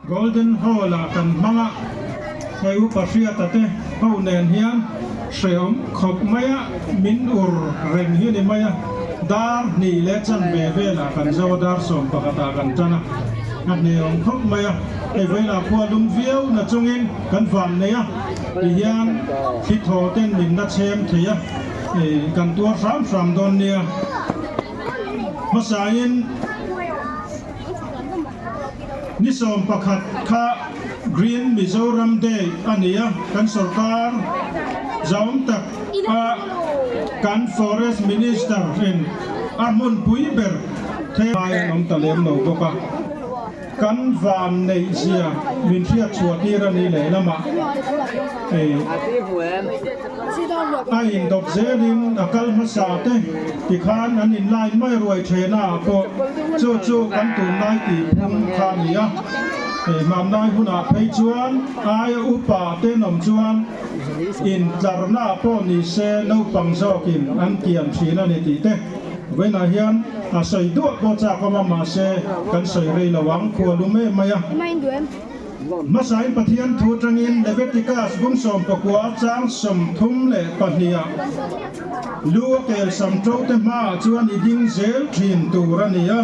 Golden Hall ah kan hmanga Heupa hriata te ho nen hian hreawm khawp mai a, min ur reng hi ni mai a, dar hnih leh chanve velah kan zo a, dar sawm pakhatah kan tan a, a hneawm khawp mai a, hei vawilah khua lum viau na chungin kan van nei a, tihian thli thaw ten min nachem thei a. kan tuar hram hram dawn nia hmasain ni sawm pakhat kha green Mizoram day a nia kan sorkar zawng tak a kan forest minister in a hmun pui ber thei a awm ta lem lo bawk a. Kan vanneih zia min hriatchhuahtir a nih lehlamah a indawt zelin a kal hmasa te tikhan an inlai mai ruai thena pawh chu chu kan tunlai tihphum kha a ni a, hmanlai hunah phei chuan aia upa te nawm chuan. Intlarna pawh ni se naupang zawkin an tiam thin a ni tih te Vawiinah hian a sawi duah pawh chak awm a mahse kan sawi rei lo ang khua lum em mai a. Hmasain Pathian thu atangin Levetikas bung sawmpakua chang sawmthum leh pahniah lu a kel sam to te hmaah chuan i ding zel thin tur a ni a,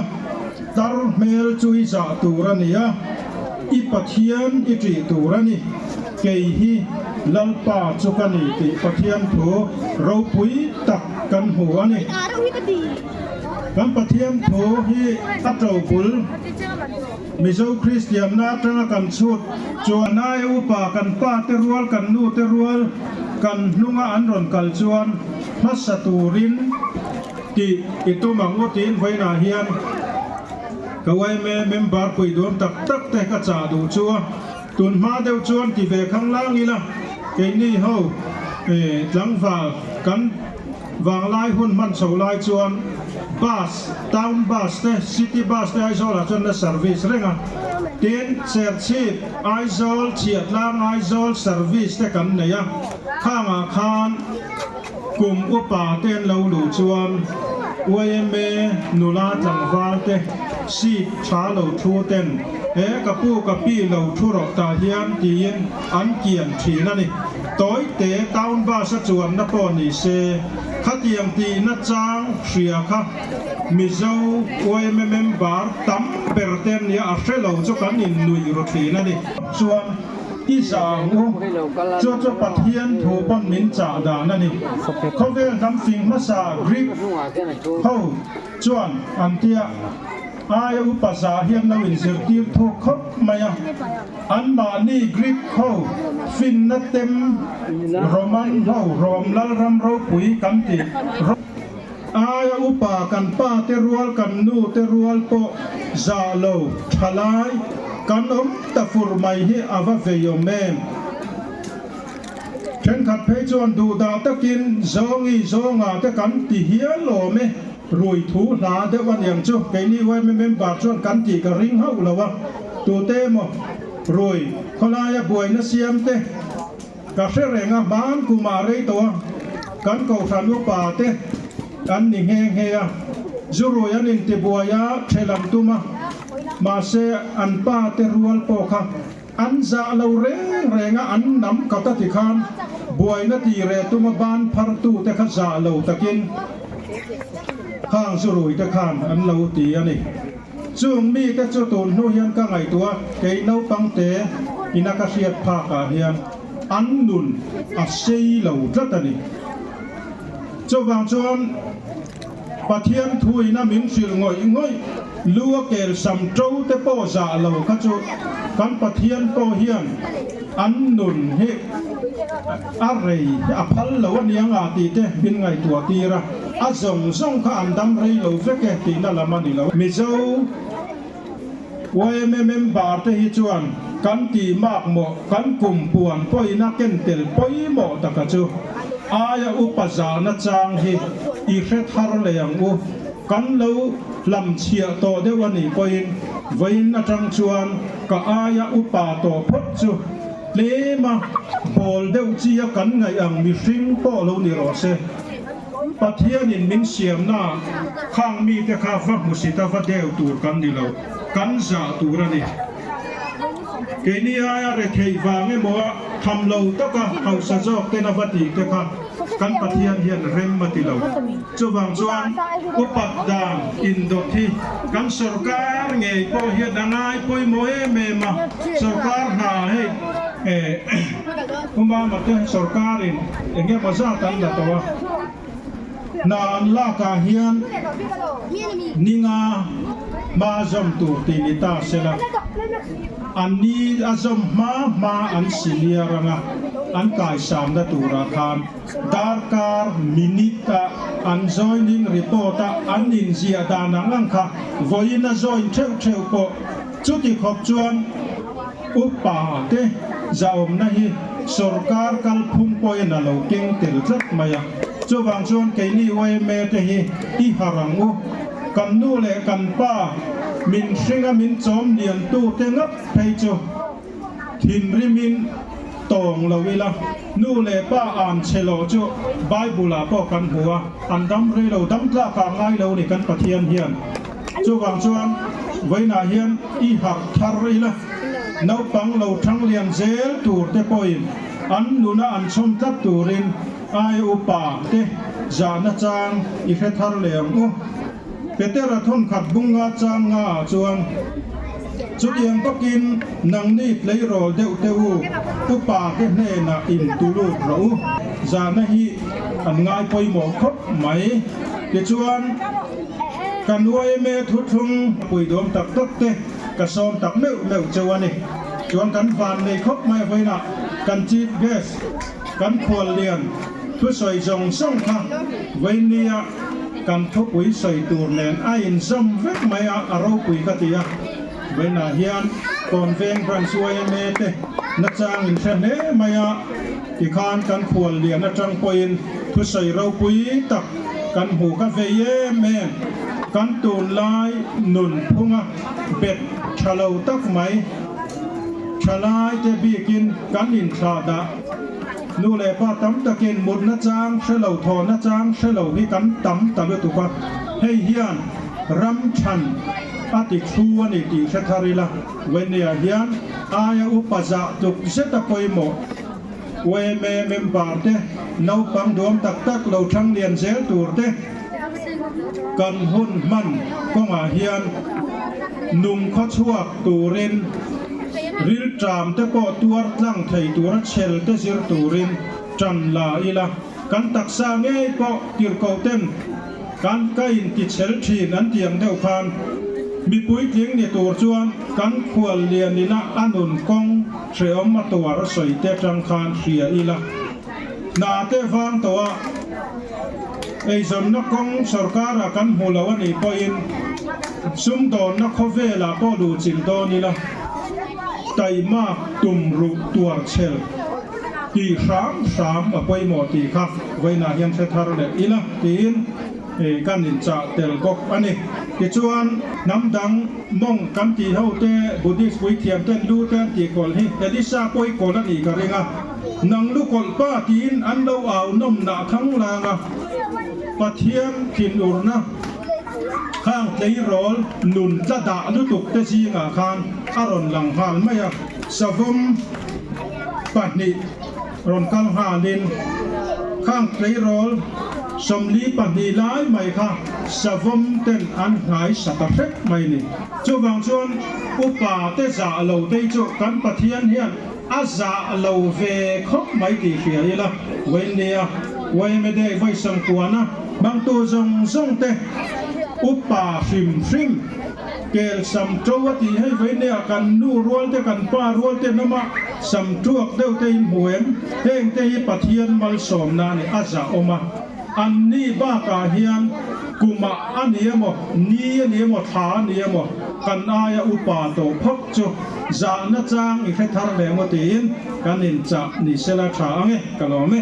tar hmel chu i zah tur a ni a, i Pathian i ṭih tur a ni. Kei hi Lalpa chu ka ni tih Pathian thu ropui tak kan hmu a ni. Kan Pathian thu hi a to bul Mizo Kristianna atanga kan chhut chuan. A nai a upa, kan pa te rual, kan nu te rual kan hnunga an rawn kal chuan hmasa turin ti i tum ang u tiin vawiinah hian ka yma member puidum tak tak te ka chah duh chu. Tunhma deuh chuan ti ve khanglang ila, keini ho tlangval kan vanglai hun hman chho lai chuan bus, town bus te, city bus te Aizawlah chuan na service reng a. Tin, Cherchhip, Aizawl, Chhiatlâng, Aizawl service te kan nei a, khangah khan. Kum upa te an lo luh chuan yma nula tlangval te sik tha lo thu ten he ka pu ka pi lo thu rawh ta hian tiin an kian thin a ni. Tawite town bus a chuanna pawh ni se khatiang tihna chang hria kha Mizo yma member tam ber te an nia a hre lo chu kan innuih ru thin a ni. Chuan I sang u, chu chu Pathian thu pawn min chah dan a ni. Khawvel damfing hmasa Greek ho chuan an ti a, Aia upa zah hian lo in zirtir thu khawp mai a, an mahni Greek ho finna tem Roman ho Rome lalram ropui kan tih rawh. Ai a upa kan pa te rual kan nu te rual pawh zah lo tha lai kan awm ta fur mai hi a va veiawm em? Thenkhat phei chuan duhdah takin zawngi zawnga te kan ti hial awm e, ruithu hla deuh aniang chu keini yma member chuan kan tih ka ring hauh lo a, tute emaw rui khawlaia buaina siam te, Ka hre reng a, hmaan kum a rei tawh a, kan kohhran upa te an ni nghe nghe a, Zurui an in tibuai a, ṭhel an tum a, mahse an pa te rual pawh kha an zah lo reng reng a, an nam khat a ti khan buaina tih reh tum a, ban phar tu te kha zah lo takin Khang Zurui te khan an lo ti a ni. Chung mite chu tun hnu hian ka ngaihtuah kei naupangte ina ka hriat phak ah hian an nun a sei lo tlat a ni. Chuvang chuan Pathian thu ina min hrilh ngawih ngawih lu a kel sam to te pawh zah lo kha chu kan Pathian pawh hian an nun hi A rei a phal lo a nia nga tih te in ngaihtuah tir a, a zawng zawng kha an dam rei lo vek e tihna lam a ni lo. Mizo yma member te hi chuan kan ti mak mawh kan kum puan pawhin a ken tel pawimawh taka chu aia upa zana chang hi i hre thar leh ang u, kan lo hlam chhiah tawh deuh a nih pawhin vawiin atang chuan ka aia upa tawh phawt chu. Tlema pawl deuh chi a kan ngaih ang mihring pawh lo ni rawh se, Pathianin min siamnaah khang mite kha va hmusita va deu tur kan ni lo, kan zah tur a ni. Keini aia retheih vang emawa tham lo taka hausa zawk tena va tihte kha kan Pathian hian rem a ti lo. Chuvang chuan upat dan indawt hi kan sorkar ngei pawh hian a ngai pawimawh em em a, sorkar hna hei eh umama te sorkarin eng emaw zat an la tawh a, hna an lakah hian ninga hma zawm tur tih ni ta se la, an ni a zawm hma hma an siliar anga an kaisam na turah khan. Darkar minute ah an join in report a an in zia dan ang ang kha vawi in a join theuh theuh pawh chuti khawp chuan upa te zahawmna hi sorkar kal phum pawhin a lo keng tel tlat mai a chuvang chuan keini yma te hi i harh ang u kan nu leh kan pa min hringa min chawm lian tu te ngap phei chu Thinrim in tawng lo ila, nu leh pa an che loh chu Bible ah pawh kan hmu a, an dam rei lo, dam tlak ah ngai lo ni kan Pathian hian. Chuvang chuan vawiinah hian i harh thar ila, naupang lo thanglian zel tur te pawhin an nuna an chhawm tlat turin ai upa te zahna chang i hre thar leh ang u. Petera thawnkhat bung nga chang nga ah chuan, Chutiang bawkin nang ni tleirawl deuh teh u, upa ke hnenah in tu lut rawh u, zana hi an ngai pawimawh khawp mai. Tichuan, ka nuaime thuthlung puidawm tak tak te ka sawm tak meuh meuh che u a ni. Chuan kan van nei khawp mai vawiin ah kan chief guest, kan khual lian thusawi zawng zawng kha Vainlia kan khawpui sawi tur nen a inzawm vek mai a, a ropui ka ti a. Vaina hian Tawnveng Branch yma te nachang in hre hle mai a, tikhan kan khual lian atang pawhin thusawi ropui tak kan hmu ka vei em em. Kan tunlai nunphunga bet tha lo tak mai, tha lai te bikin kan in thlah dah, nu leh pa tam takin mutna chang hre lo, thawhna chang hre lo hi kan tam ta lutuk a, hei hian ram than a ti thu a ni tih hre thar ila, Wenia hian aia upa zah tluk zeta pawimawh UMA member te, naupang duam tak tak lo thang lian zel tur te, Kan hun hman kawngah hian nung khaw chhuak turin rilṭam te pawh tuar tlang thei tura chhel te zir turin ṭan la ila kan taksa ngei pawh tirhkohten kan ka in ti chhel ṭhin an ti ang deuh khan mi puitling ni tur chuan kan khual lian ila a nun kawng hrehawm a tuar a sawi te ṭang khan hria ila. Hna te vang tawh a eizawnna kawng sorkara kan hmuh loh a nih pawhin sumdawnna khawvelah pawh duh chilh dawn ila taih mak tum ruh tuar chhel tih hram hram a pawimawh tih kha vawiinah hian hre thar leh ila tiin kan inchah tel bawk a ni. Tichuan hnam dang monk kan tihho te, Buddhist puithiam ten, lu ten tihkawl hi Elisha pawikawl a nih ka ring a. nang lu kawlh pa tiin an lo au nawmna thanglang a Pathian thin urna khang tleirawl nun tla dah lutuk te zingah khan a rawn lang nghal mai a, savawm pahnih rawn kal nghalin khang tleirawl sawmli pahnih lai mai kha savawm ten an hngaisa ta hrep mai a ni. Chuvang chuan upa te zah lo te chu kan Pathian hian. A zah lo ve khawp mai tih hria ila Wendy-a Wayne Day vawisam kuana hmangtu zawng zawng te upa hrim hrim kel sam to a tih hei Wendy-a kan nu rual te kan pa rual te hnama sam tuak deuh te in hmu em heng te hi Pathian malsawm na ni a zah awm a an ni bakah hian kumah a ni emaw ni a ni emaw thla a ni emaw kan aia upa tawh phawt. Chu zahna chang i hre thar ve maw tiin kan inchah ni sela tha ang e ka lawm e.